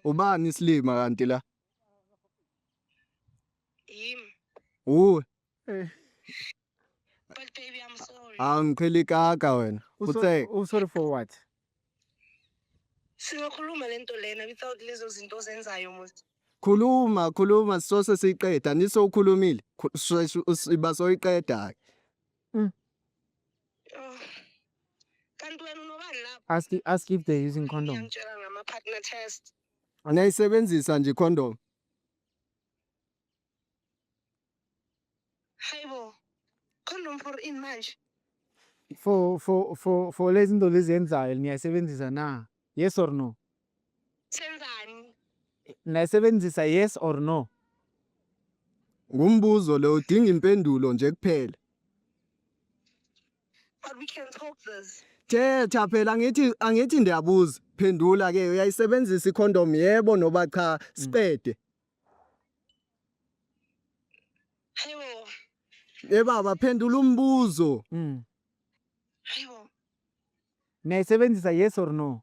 Ubani isilima kanti la? Yim. Uwe. Eh. But baby I'm sorry. Angipheli kaka wena. Uthe u sorry for what? Singakhuluma lento lena without lezo zinto ozenzayo muthi. Khuluma, khuluma sisose siyiqeda. Nisokhulumile. Iba soyiqeda ke. Mm. Oh. Kanti wena unobani lapho? Ask ask if they're using condom. Ngiyangitshela ngama partner test. Anayisebenzisa nje condom. Hayibo. Condom for in manje. For for for for lezi zinto lezi yenzayo niyayisebenzisa na? Yes or no? Senzani? Nayisebenzisa yes or no? Ngumbuzo lo udinga impendulo nje kuphela. But we can talk this. Thetha phela angithi angithi ndiyabuza. Phendula ke uyayisebenzisa icondom yebo noba cha siqede. Hayibo, Eh baba phendula umbuzo. Mm. hayibo. Nayisebenzisa yes or no?